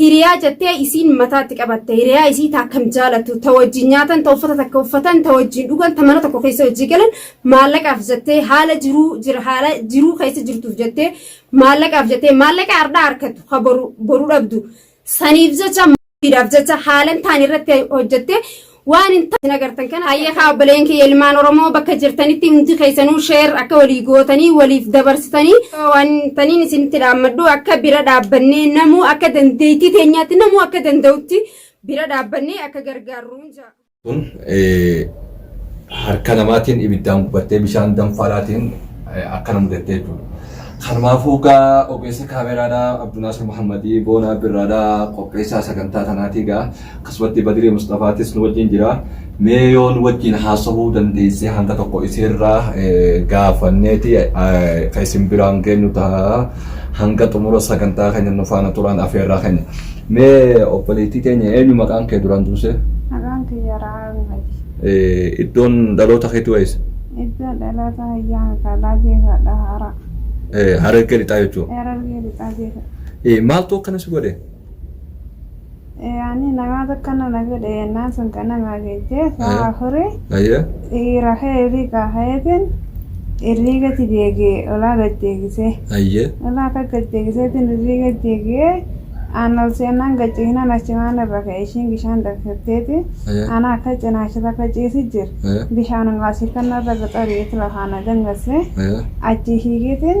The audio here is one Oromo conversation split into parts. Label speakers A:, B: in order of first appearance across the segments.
A: Hiriyaa jettee isiin mataatti qabatte. Hiriyaa isii ta akkam jaalattu, ta wajjin nyaatan, ta uffata takka uffatan, ta wajjin dhugan, ta mana tokko keessa hojii galan maallaqaaf jettee haala jiruu jira haala jiruu keessa jirtuuf jettee maallaqaaf jettee maallaqa hardhaa harkattu ha boru boru dhabdu saniif jecha maatiidhaaf jecha haalan taan irratti hojjettee waan hin taane agartan kana hayya kaa obboleen kiyya ilmaan oromoo bakka jirtanitti hundi keessanuu sheer akka walii gootanii waliif dabarsitanii waan taniin isinitti dhaammadhu akka bira dhaabbannee namuu akka dandeettii teenyaatti namuu akka danda'utti bira dhaabbannee akka gargaarru jaa. kun
B: harka namaatiin ibiddaan gubattee bishaan danfaalaatiin akka na mudattee jechuudha. Kanumaafuu gaa ogeessa kaameraadhaa Abdunaasir Muhammadii Boonaa Birraadhaa qopheessaa sagantaa tanaatii gaa Akkasumatti Badiri Musxafaatis nu wajjin jira. Mee yoo nu wajjin haasahuu dandeesse hanga tokko isiirraa gaafanneeti kan isin biraan geenyu ta'a. Hanga xumura sagantaa keenya nu faana turaan afeerraa keenya. Mee obboleettii teenya eenyu maqaan kee duraan duusee? Maqaan kiyya
C: Ra'aamati. Iddoon
B: dhaloota keetii wayisa? Iddoon dhaloota
C: hayyaa magaalaa Jeefaadha hara. Harargee
B: lixaa jechuudha. Harargee
C: lixaa Jeefa. Maaltu akkana si godhe?
B: Yaani
C: namaa takka nana fedhe yennaan sun ka namaa geejjee Aye. sa'a afuri Aye. dhiira ka'eefi kaa ka'eetiin irrii gati deegee olaa gad deegisee. Aye. Olaa akka gad deegiseetiin irrii gad deegee aan ol seennaan gad ciisnaan achumaan irra ka'e ishiin bishaan danfitteeti. Aye. Ana akka cinaachisa akka ciisi jir. Aye. Bishaanuma asii kanna irra gaxari'eeti lafaa na dangasse. Aye. Achii hiigeetiin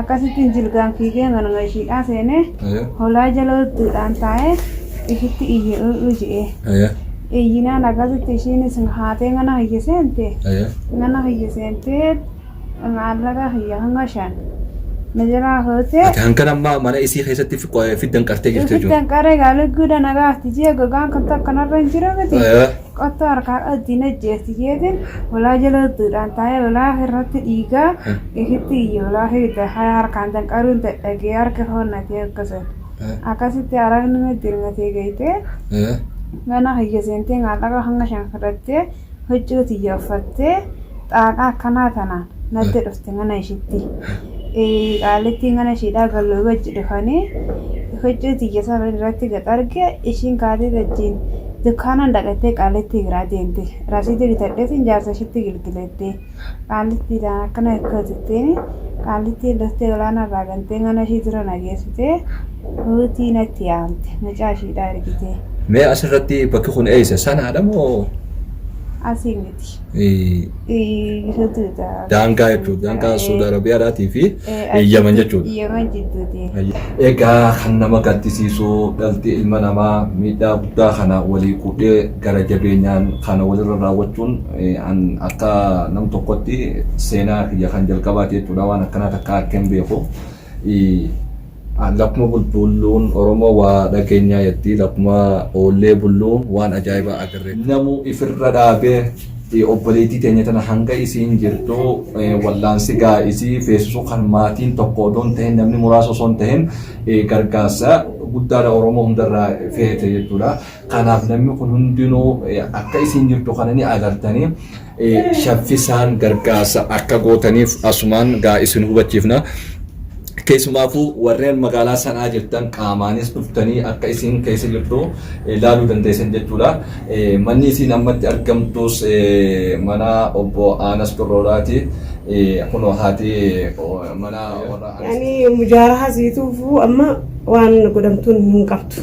C: Akkasittiin jilgaan fiigee manuma ishiidhaa seenee Aye. holaa jala udduudhaan taa'ee ishitti iyye u'u je'ee. Aye. Iyyinaan akkasitti ishiinis haatee mana kiyya seente. Aye. Mana kiyya seentee maallaqa kiyya hanga shan na jalaa fuutee Ati hankan amma mana
B: isii keessatti fi- qo- fiddan qartee jirti jechuudha. ifittan qaree gaaligguudha
C: na gaafti jee gogaan kan takka narra hin jiru miti. Aye. Qottoo harkaa qabdi na jeesti jeetiin olaa jaloodduudhaan taa'ee olaa irratti dhiigaa ifitti iyya olaa fiigda haya harkaan danqaruun dadhagee harki hoonnatee akkasa. Akkasitti aragni na dirmatee geeytee mana kiyya seentee maallaqa hanga shan fudhattee huccuu tiyya uffattee xaaqaa akkanaa tanaan natti dhufte mana ishitti. qaalittiin kana ishiidhaa galloo wajji dhufanii huccuu tiyya sana irratti gad arge ishiin kaatee wajjiin dukkaanaan dhaqattee qaalittii biraa deemte rasiitii bitadheetiin jaarsa ishiitti gilgilettee qaalittiidhaan akkana akka jetteen qaalittiin loftee olaanaa irraa gantee mana ishii dura nageessitee ruutii natti yaamte mucaa ishiidhaa ergitee Mee asirratti
B: bakki kun eessa? Sanaadha moo? asii
C: miti. Gidduutti jechuudha.
B: Daangaa jechuudha. Daangaa Suudi Arabiyaadhaatii fi Yaman jechuudha. Yaman jidduuti.
C: Egaa kan
B: nama gaddisiisu dhalti ilma namaa miidhaa guddaa kana walii quudhee gara jabeenyaan kana walirra raawwachuun an akka nam tokkotti seenaa kiyya kan jalqabaati jechuudha waan akkanaa takka akka hin beeku. Lakkuma bulbuulluun Oromoo waa dhageenyaa jetti. Lakkuma oollee bulluu waan ajaa'ibaa agarre. Namuu ifirra dhaabee obboleettii teenya tana hanga isiin jirtu wallaansi gaa isii feesisuu kan maatiin tokko odoo hin tahin namni muraasa osoo hin tahin gargaarsa guddaadha Oromoo hundarraa feete jechuudha. Kanaaf namni kun hundinuu akka isiin jirtu kana ni agartanii. shaffisaan gargaarsa akka gootaniif asumaan gaa isin hubachiifna. Keessumaafuu warreen magaalaa sanaa jirtan qaamaanis dhuftanii akka isin keessa jirtu ilaaluu dandeessan jechuudha. Manni isin ammatti argamtus mana obbo Aanas Birrooraati. Kunoo haati mana warra Aanas. Ani mujaaraha
D: siituufuu amma waan godhamtuun hin qabdu.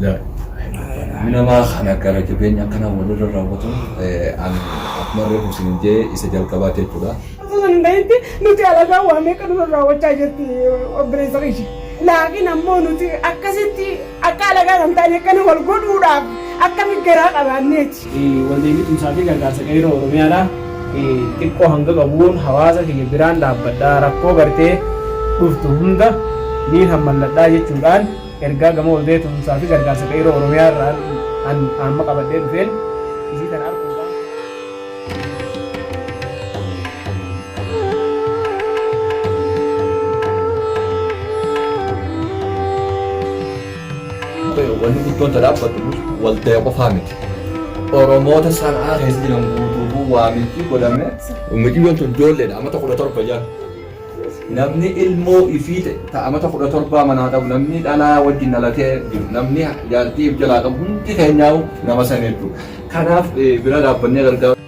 B: jirti. Minamaa kana gara jabeenya akkana walirra raawwatuun an akkuma reefu isin jee isa jalqabaa jechuudha. Osoo hin ta'etti
D: nuti alagaa waa meeqa nurra raawwachaa jirti obboleessa keenya. Laakiin ammoo nuti akkasitti akka alagaa kan taane akkana wal godhuudhaaf akkami garaa qabaanneeti. Waldeenii Tumsaa
E: fi Gargaarsa Qeerroo Oromiyaadha. Xiqqoo hanga qabuun hawaasa kiyya biraan dhaabbadha, rakkoo gartee dhuftu hunda niin hammalladha jechuudhaan ergaa gama Waldee Tumsaa fi Gargaarsa Qeerroo Oromiyaa irraa an amma qabadhee dhufeen isii tana arguu waan fedheef.
B: Wanni guddoon ta dhaabbattu waldaya qofaa miti. Oromoota sanaa keessa jiran guutuu waamichi godhame. Miciyyoon tun ijoolleedha amata kudha torba jala. Namni ilmoo ifii ta amata kudha torbaa manaa qabu namni dhalaa wajjin dhalatee jiru namni jaartii of jalaa qabu hundi keenyaa'u nama sana jechuudha. Kanaaf bira dhaabbannee gargaaru.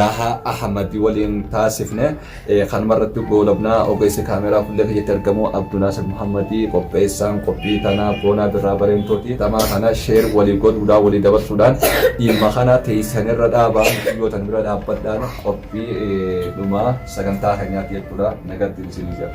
B: Raahaa Ahmad waliin taasifne kanuma irratti goolabna ogeessi kaameeraa fuullee keessatti argamu Abdunaasir Muhammad qopheessaan qophii tanaa Boonaa Birraa Bareentooti tamaa kana sheer walii godhuudhaan walii dabarsuudhaan dhimma kana teessan irra dhaabaa mixiyyootan bira dhaabbadhaan qophii dhumaa sagantaa keenyaatti jechuudha nagattiin isinii jira.